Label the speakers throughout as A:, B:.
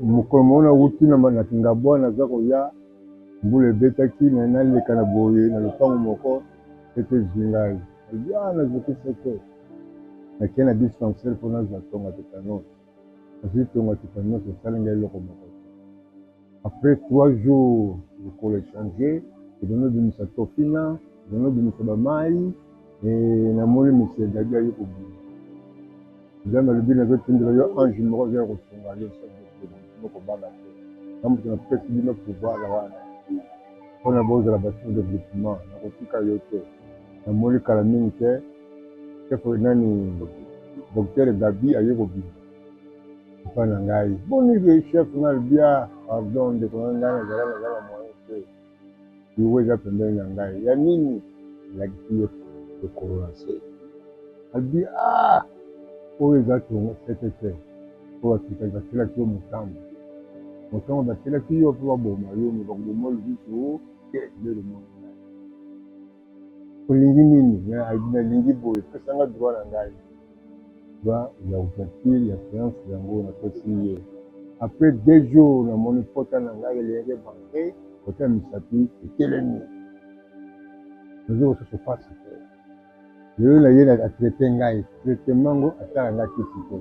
A: Mokolo moko nawuti na Kingabwa naza koya, mbula ebetaki mais naleka na boye na lopango moko soki ezwi ngai nalobi ah nazoki sote nake na dispensaire mpo nazwa tonga tetanos nazwi tonga tetanos esali ngai eloko moko après trois jours lokolo echange ebanda obimisa tofina ebanda obimisa bamai namoni misiedadi aye kobima Nzambe alobi nazotindela yo ange moko azoya kosunga yo sino kobanga te na moto napesi bino pouvoir wana mpona bozala basour developpement nakotika yo te namoni kala mingi te chefo nani docteur gabi aye kobima epa na ngai boni chef nalbia pardon ndeko na ngai nazala nazala moyen te Liwa eza pembeni na ngai ya nini? Alakisi ye lokolo na se, albi a ah, oyo eza tongo sete te oyo batika batielaki yo motambo motango batielaki yo mpe baboma yo me bakoboma lisusu te nde lomoni Olingi nini mais alobi nalingi boye pesa nga droit na ngai droit ya ouverture ya seance yango napesi ye après deux jours namoni pota na ngai elenge banke kote ya misapi etelemi nazo kosusu pasi te lelo na ye atraite ngai traitement ngo atala ngai kisi te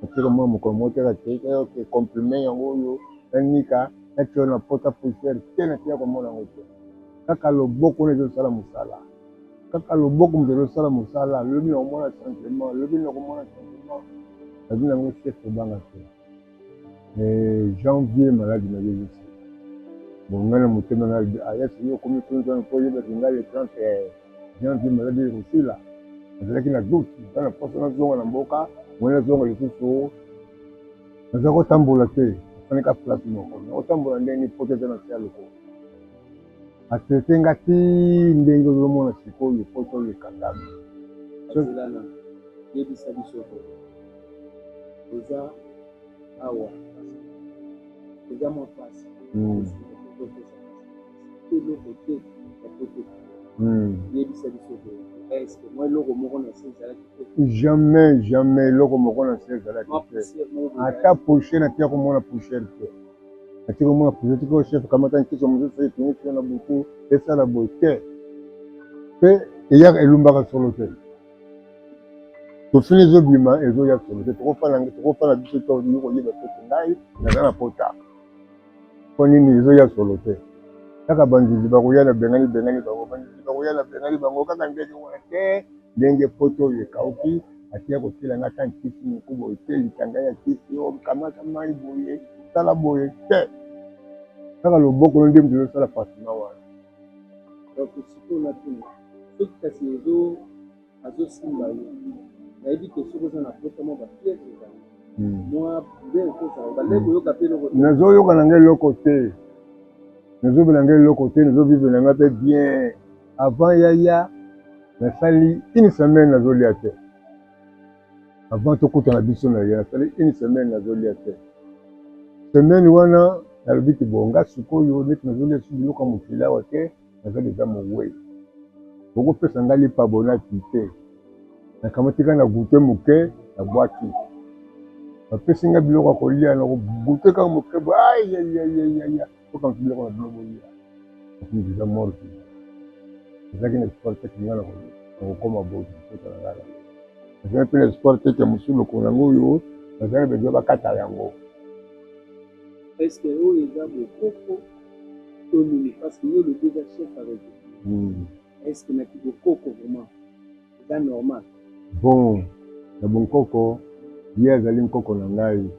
A: natika mwa mokolo moko teka te oke comprime yango oyo nanika natyo na pota poussière te natika komona yango te kaka loboko nde ezosala mosala kaka loboko moto ezosala mosala lobi nakomona changement lobi nakomona changement nabi nango chef obanga te eh, janvier maladi na yo ezosala bongai na motema na ayasi ah, yo okomi kunzana mpo oyebaki ngai le 30 eh, janvier maladi ekosila nazalaki na doute eza na mposa nazonga na mboka moi nazonga lisusu naza kotambola te afandika place moko nakotambola ndenge poto eza na se ya lokolo a traite nga ti ndenge ozomona sikoyo po toleka ngabi azelana
B: yebisa biso ko eza awa eza mwa pasi hmm. eloko te ya poto hmm. yebisa biso ko eske mwa eloko moko na se ezalaki te jamais jamais eloko
A: moko na se ezalaki te ata poche na te ya komona poussière te ati komona projet tiko chef kamata nkisi ya mosusu etini tio na butu esala boye te mpe eyaka elumbaka solo te tofini ezobima ezoya solo te tokofana biso to olingi koyeba soki ngai naza na pota mpo nini ezoya solo te kaka banzuzi bakoya na bengani bengani bango banzuzi bakoya na bengani bango kaka ndenge wana te Ndenge poto oyo ekauki atiya kotiela nga ata nkisi moko boye te, litanga ya kisi oyo kamata mayi boye sala boye te, kaka loboko no nde mutu ezo sala pansement wana. Donc
B: sikoyo na tuna soki kasi ezo azo simba yo nayebi te soki oza na poto mwa ba fièvre ezali mwa bien okosa obandaki koyoka pe eloko te? Nazo yoka na nga eloko
A: te, nazo bela nga eloko te, nazo vivre na nga pe bien. Avant yaya nasali une semaine nazolia te. Avant tokutana biso na yaya nasali une semaine nazolia te. Semaine wana nalobi ti bonga sikoyo neti nazolia su biloko ya mokili awa te naza deja mowei. Bokopesa ngai lipa bonaki te. Nakamati kaka na goute moke na bwaki. Bapesi ngai biloko ya kolia na goute kaka moke boye ayayayaya. okanisi biloko na bino bolia okomi deja mort vivant ezalaki na espoir te kinga na kokoma boye kota na ngai ezalaki mpe na espoir te ke mosusu lokolo yango oyo bazali bezo bakata yango
B: eske oyo eza bokoko to nini parce que yo lobi eza chef ya rezo hmm. eske na kibokoko vraiment eza normal.
A: Bon ya bonkoko ye azali nkoko na ngai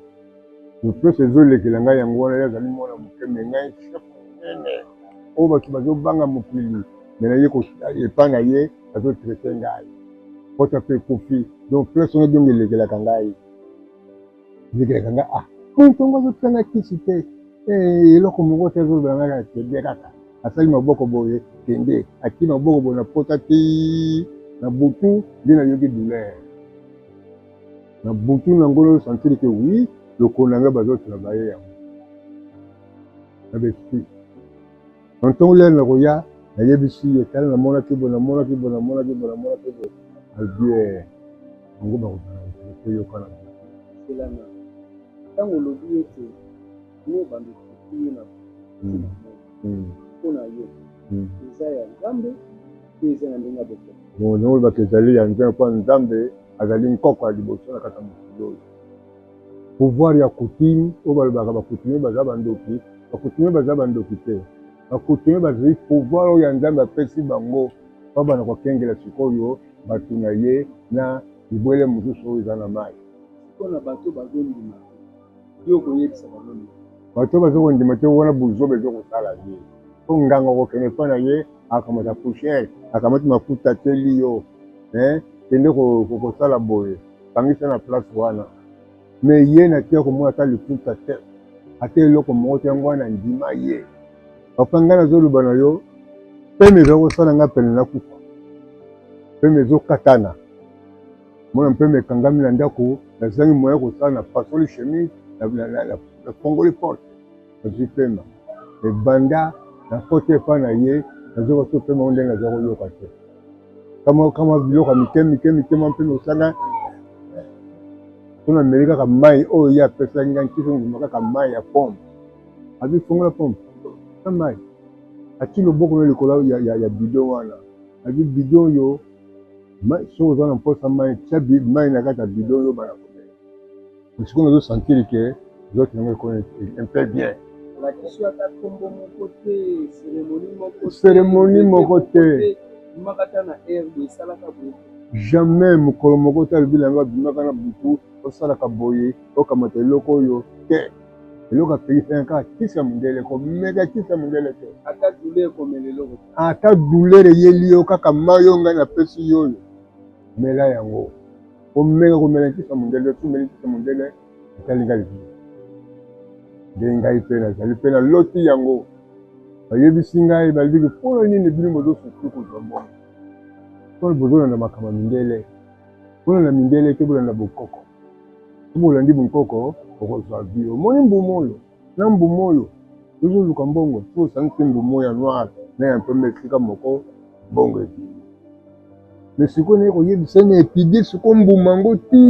A: lopeso ezolekela ngai yango wana ye azali mwana moke me ngai chef monene oyo bato bazobanga mokili me na ye epa na ye azotraite ngai pota mpe ekufi donc place wana donc elekelaka ngai Bikelaka nga ah moto ngo azotika nga kisi te eh, eloko moko te azoloba nga kende kaka asali maboko boye kende akii maboko boye na pota ti na butu nde nayoki douleur na butu na ngolo santiri ke wi lokolo na nga bazotuna baye yango na besprit Na ntongo lelo nakoya, nayebisi ye, tala namonaki boye, namonaki boye, namonaki boye, namonaki boye. Alobi ye, eh, yango bakobanda kokende mpe yokana boye. Selana,
B: ntango olobi ete ne bando tutu ye na hmm. hmm. mpo na yo hmm. eza ya Nzambe to eza na ndenge ya bokono? Bongo olobaka ezali
A: ya Nzambe, mpo Nzambe azali nkoko ya liboso na kati ya mokili oyo. Pouvoir ya coutume oyo balobaka ba coutumier baza ba ndoki, ba coutumier baza ba ndoki te. Ba coutumier bazui pouvoir oyo ya Nzambe apesi bango po bana kokengela sikoyo batu na ye na bibwele mosusu oyo eza na mayi. Sikoyo na batu
B: bazondima te yo okoyebisa bango nini? Bato bazo
A: kondima te wana buzoba ezo kosala ye po nganga okokende epa na ye akamata poussière akamati mafuta atieli yo eh kende kosala boye Kangisa na place wana me ye na tia komona ata liputa te ata eloko moko te, yango wana ndima ye papa. Ngai nazoloba na yo peme ezali kosala ngai pene na kufa, peme ezokatana mona, peme ekangami na ndako, nazangi moyen kosala na fasoli chemise na fongoli porte azwi pema me banda na koti epa na ye nazwi koso pema o ndenge aza koyoka te kamwa kamwa biloko ya mike mike mike mwa mpe mosala mpona meli kaka mai oyo ye apesaki ngai ntiki nguma kaka mai ya pompe abi fongola pompe na mai ati loboko na likolo ya, ya, ya bido wana abi bido oyo soki oza na mposa mai tya mai na kati ya bido oyo bana Sikoyo nazo sentir que nzoto yango ekoni un peu bien. Cérémonie moko te. Jamais mokolo moko te alobi na yango abimaka na butu osalaka boye okamata eloko oyo te. eloko apekisaka kaka kisi ya mondele komeka kisi ya mondele te ata douleur eyeli yo kaka mai oyo ngai napesi yo oyo mela yango Omenge komela nkisa mondele, otu omeli nkisa mondele, etali ngai lisusu. Nde ngai mpe nazali mpe naloti yango. Bayebisi ngai, balobi mpo na nini bino bozosusu kozwa mbongo? Mpo bozolanda makambo ya mindele. Bolanda mindele te, bolanda bonkoko. Soki bolandi bonkoko, okozwa bio. Omoni mbumu oyo? na mbuma oyo tozoluka mbongo tu osangisi mbuma ya noir na ya mpembe esika moko mbongo ebimi me sikoyo naye koyebisa na epide siko mbuma yango ti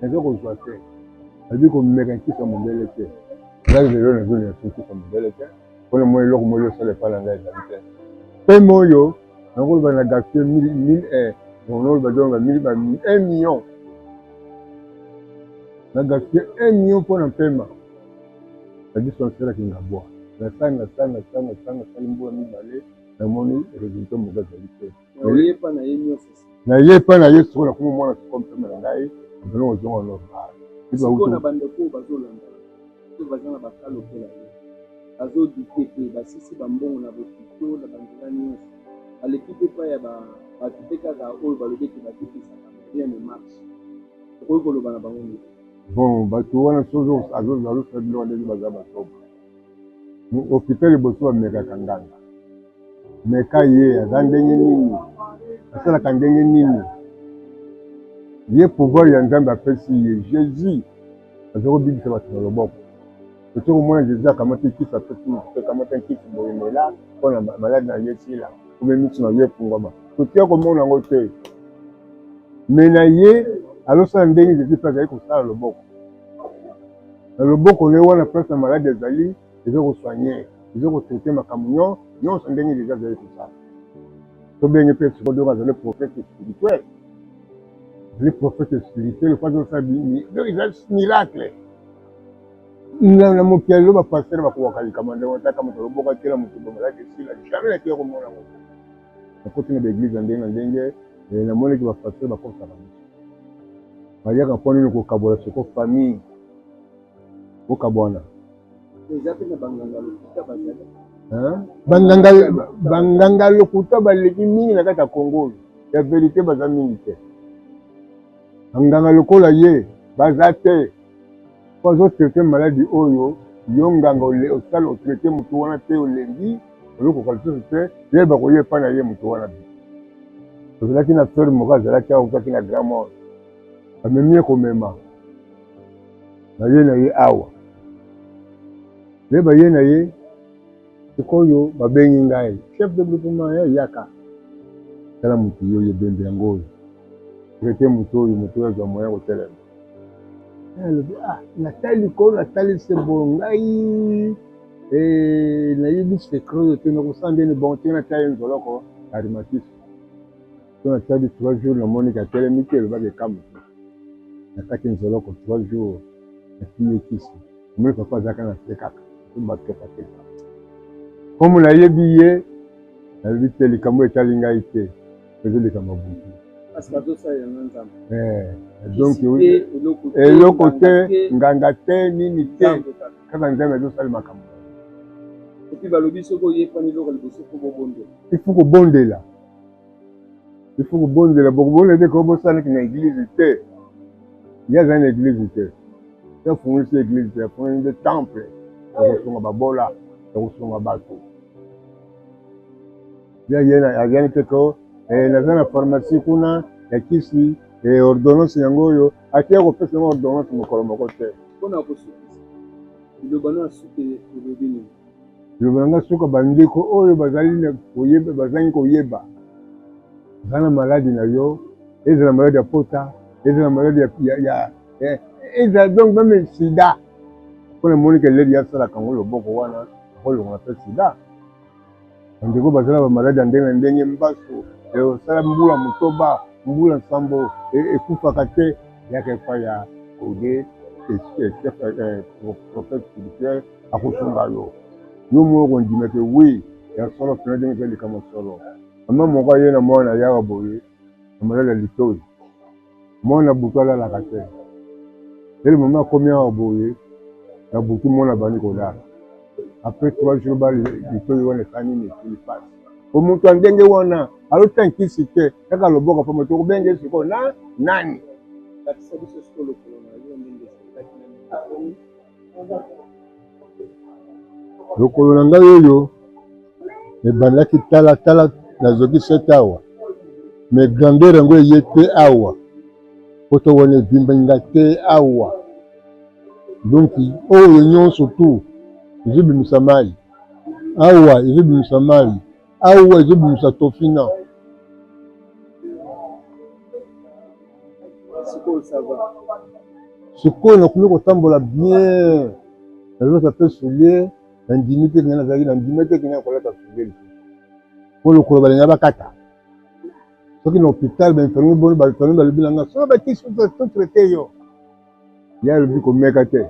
A: naza kozwa te nabi komeka nkisa mondele te ngai lelo nazolina soki nkisa mondele te mpona mwa eloko moli osala epai na ngai ezali te mpema oyo nakoloba na gaspille mille mille eh, nakoloba donc na mille ba un million na gaspille un million mpo na mpema na biso nasalaki ngabwa nasanga sanga sanga sanga sali mbula mibale namoni resultat moko ezali te naye epai na ye soko nakoma mwana soko mpema na ngai ozonga normal
B: oyo baza na bakala lokola ye bazodite mpe basisi bambongo na bokito na banzela nyonso baleki mpe epai ya bato mpe kaka oyo balobi ete bakipesaka bien de marche okoki koloba na bango nini bon bato
A: wana soki azosala biloko ndenge baza batoba hôpital liboso bamekaka nganga meka ye aza ndenge nini asalaka ndenge nini ye pouvoir ya nzambe apesi ye jésus Azali kobikisa bato na loboko. Tokoki komona Jesus akamati nkisi, apesi moto mpe, Kamata nkisi, boye mela, mpo na maladi na yo esila, mpe miso na yo efungwama. Tokoki ya komona yango te, me na ye alosala ndenge Jesus mpe azali kosala loboko na loboko na ye wana place na maladi ezali eza kosoigne eza kotraite makambo nyo nyonso ndenge deja azali kosala tobenge mpe sikoyo azali prophète spirituel les prophètes spirituels pas osala bini donc eza miracle na mokili lelo bapastere bakobaka likambo ndenge otaka moto aloboka te na moto bomalaki esila jamais nakiya komona ngo nakoti na baeglise ya ndenge na ndenge eh, namonaki bapastere bakosaka biso bayaka mpo nini kokabola soko famille bokabwana banganga lokuta baleki mingi na kati ya kongo oyo ya verite baza mingi te banganga lokola ye baza te po azotraite maladi oyo yo nganga osala otraite motu wana te olembi ozokoka lisusu te ye bakoye epa na ye motu wana bi tozalaki na sere moko azalaki autaki na grand mort bamemi ye komema baye na ye awa nde baye na ye sikoyo babengi ngai chef de groupement ya yaka tala moto yo ye bembe yango oyo traite moto oyo moto oyo azwa moya kotelema alobi ah natali likolo natali se bo ngai eh, nayebi secret oyo te nakosala ndeni bon te natya ye nzoloko arimatisi So nasali trois jours na moni ka telemi te elobaka eka mosusu na kati nzoloko trois jours na kimie kisi omoni papa azaka na se kaka tobatoka te komo nayebi ye nalobi te likambo etali ngai te ezo likambo butu donc eloko te nganga te nini te kaka nzambe azosala makambo balobi soki oyekani eloko liboso fo kobondela il faut kobondela bokobondela te kobosanaki na eglize te ye azali na eglize te te afungolisi eglize te afungoli nde temple ya kosunga babola ya kosunga bato azali te ko eh, naza na pharmacie kuna ya kisi eh, ordonnance yango oyo ake ya kopesa yango ordonnance mokolo moko te mpona kosukisa liloba no asuki elobi nini Liloba na ngai soki bandeko oyo bazali na koyeba bazangi koyeba baza na maladi na yo, ezala maladi ya pota, ezala maladi ya eh, ezala donc meme sida. Mpo na moni ke leli asalaka yango loboko wana akolongola mpe sida. bandeko bazala ba maladi ya ndenge na ndenge mbasu osala eh, mbula motoba mbula nsambo eh, ekufaka te yaka epai ya ode eh, prophète spirituel akosunga yo yo moko kondima te wi ya solo mpena ndenge eza likambo solo mama moko aye na mwana yaka boye na maladi ya litoi Mwana butu alalaka te. Dès le moment akomi awa boye na butu mwana abandi kolala. Après trois jours ba litoyi wana eza nini esili pasi. Po mutu ya ndenge wana alota nkisi te kaka loboko pamba te okobenge sikoyo na nani? lokolo na ngai oyo ebandaki talatala nazoki sete awa me grandeur yango eye te awa poto wana ebimbi nga te awa donc oyo nyonso tu ezobimisa mai awa ezobimisa mai awa ezobimisa tofina sikoyo nakomi kotambola bien nazolata mpe soulier nandimi te kende nazalaki nandimi te kende nakolata soulier lisusu mpo lokolo balinga bakata soki na hôpital bainfirmier boni bainfirmier balobi na nga soki bakisi totraite yo ya alobi komeka te